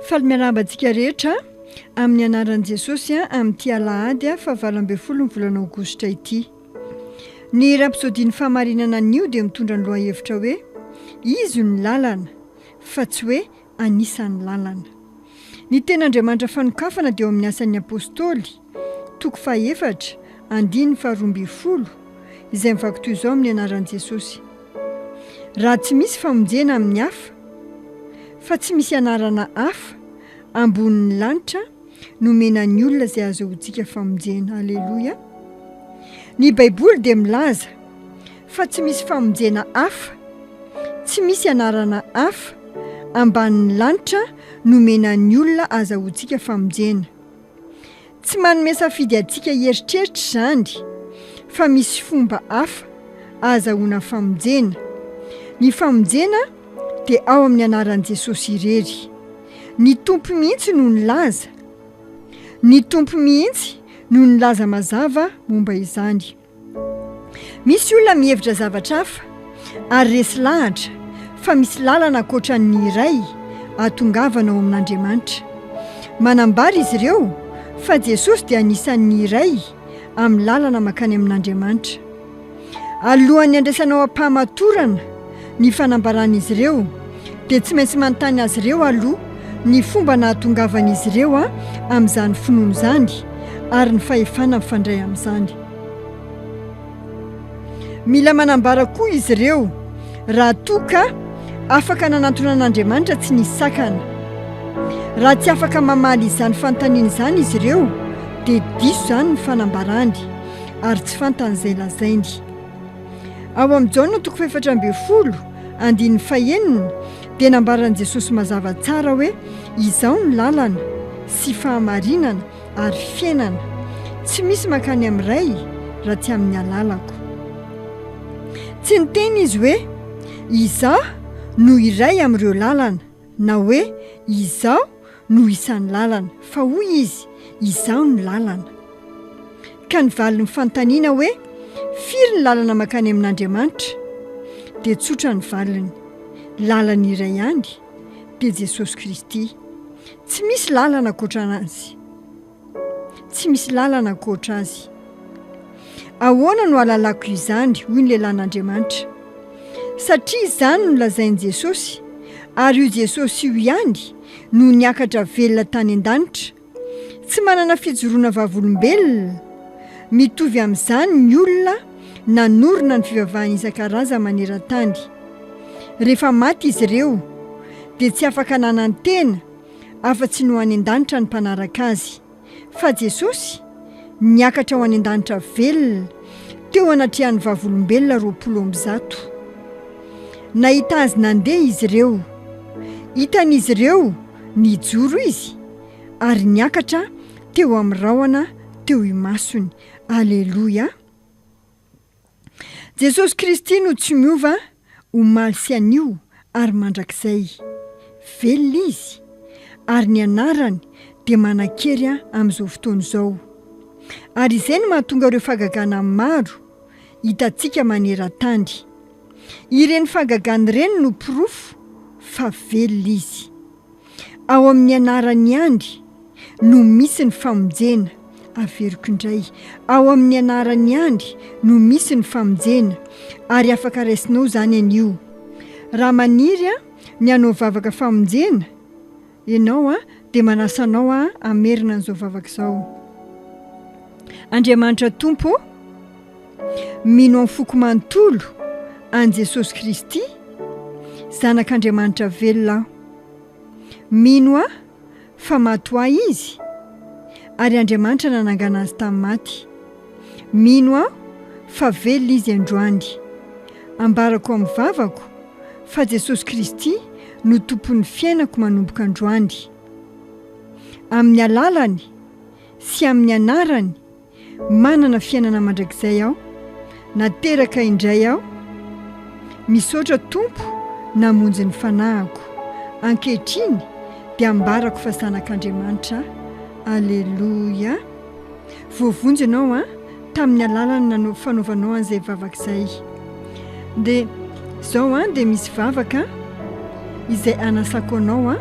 Faly miarahaba antsika rehetra amin'ny anaran'i Jesosy amin'ity alahady fahavalo ambin'ny folo ny volana aogositra ity. Ny rapsodin'ny fahamarinana anio dia mitondra ny lohahevitra hoe Izy no lalana fa tsy hoe anisan'ny lalana. Ny Tenin'Andriamanitra fanokafana dia ao amin'ny Asan'ny Apostoly, Toko fahefatra, andininy faharoa ambin'ny folo, izay mivaky toy izao amin'ny anaran'i Jesosy, Raha tsy misy famonjena amin'ny hafa, fa tsy misy anarana hafa ambonin'ny lanitra nomena ny olona izay ahazoantsika famonjena. Aleloia! Ny Baiboly dia milaza fa tsy misy famonjena hafa, tsy misy anarana hafa ambanin'ny lanitra nomena ny olona ahazahoantsika famonjena. Tsy manome safidy antsika hieritreritra izany fa misy fomba hafa ahazahoana famonjena. Ny famonjena dia ao amin'ny anaran'i Jesosy irery. Ny Tompo mihitsy no nilaza. Ny Tompo mihitsy no nilaza mazava momba izany. Misy olona mihevitra zavatra hafa ary resy lahatra fa misy lalana ankoatran'ny iray ahatongavana ao amin'Andriamanitra. Manambara izy ireo fa Jesosy dia anisan'ny iray amin'ny lalana mankany amin'Andriamanitra. Alohan'ny handraisanao am-pahamatorana, Ny fanambaran'izy ireo dia tsy maintsy manontany azy ireo aloha ny fomba nahatongavan'izy ireo amin'izany finoana izany ary ny fahefana mifandray amin'izany. Mila manambara koa izy ireo raha toa ka afaka nanantona an'Andriamanitra tsy nisy sakana. Raha tsy afaka mamaly izany fanontaniana izany izy ireo dia diso izany ny fanambarany ary tsy fantany izay lazainy. Ao amin'i Jaona toko fahefatra ambin'ny folo, andininy fahenina, dia nambaran'i Jesosy mazava tsara hoe, Izaho ny lalana, sy fahamarinana, ary fiainana. Tsy misy mankany amin'ny Ray raha tsy amin'ny alalako. Tsy niteny izy hoe, Izaho no iray amin'ireo lalana. Na hoe, Izaho no isan'ny lalana, fa hoy Izy, Izaho no lalana. Ka ny valin'ny fanontaniana hoe, Firy ny lalana mankany amin'Andriamanitra? dia tsotra ny valiny, Lalana iray ihany, dia Jesosy Kristy. Tsy misy lalana ankoatra Azy. tsy misy lalana ankoatra Azy. Ahoana no hahalalako izany? hoy ny lehilahin'Andriamanitra. Satria izany no lazain'i Jesosy, ary io Jesosy io ihany no niakatra velona tany an-danitra. Tsy manana fijoroana vavolombelona. Mitovy amin'izany ny olona nanorina ny fivavahana isan-karazany maneran-tany. Rehefa maty izy ireo, dia tsy afaka nanantena, afa-tsy ny ho any an-danitra ny mpanaraka azy. Fa Jesosy? Niakatra ho any an-danitra velona, teo anatrehan'ny Vavolombelona roapolo amby zato. Nahita Azy nandeha izy ireo. Hitan'izy ireo nijoro Izy, ary niakatra teo amin'ny rahona teo imasony. Aleloia! Jesosy Kristy no tsy miova omaly sy anio ary mandrakizay. Velona Izy, ary ny Anarany dia manan-kery amin'izao fotoana izao. Ary izay no mahatonga ireo fahagagana maro hitantsika maneran-tany. Ireny fahagagana ireny no porofo fa velona Izy. Ao amin'ny anaran'i Andry no misy ny famonjena. Averiko indray, ao amin'ny anaran'i Andry no misy ny famonjena, ary afaka raisinao izany anio. Raha maniry an, ny hanao vavaka famonjena ianao an, dia manasa anao an, hamerina an'izao vavaka izao. Andriamanitra Tompo o! Mino amin'ny foko manontolo an'i Jesosy Kristy, Zanak'Andriamanitra velona aho. Mino aho fa maty ho ahy Izy, ary Andriamanitra nanangana Azy tamin'ny maty. Mino aho fa velona Izy androany. Ambarako amin'ny vavako fa Jesosy Kristy no Tompon'ny fiainako manomboka androany. Amin'ny alalany sy amin'ny anarany Manana fiainana mandrakizay aho. Nateraka indray aho. Misaotra Tompo namonjy ny fanahiko. Ankehitriny dia ambarako fa zanak'Andriamanitra aho. Aleloia. Voavonjy ianao an, tamin'ny alalan'ny nanao fanaovanao an'izay vavaka izay. Dia izao an, dia misy vavaka izay anasako anao an.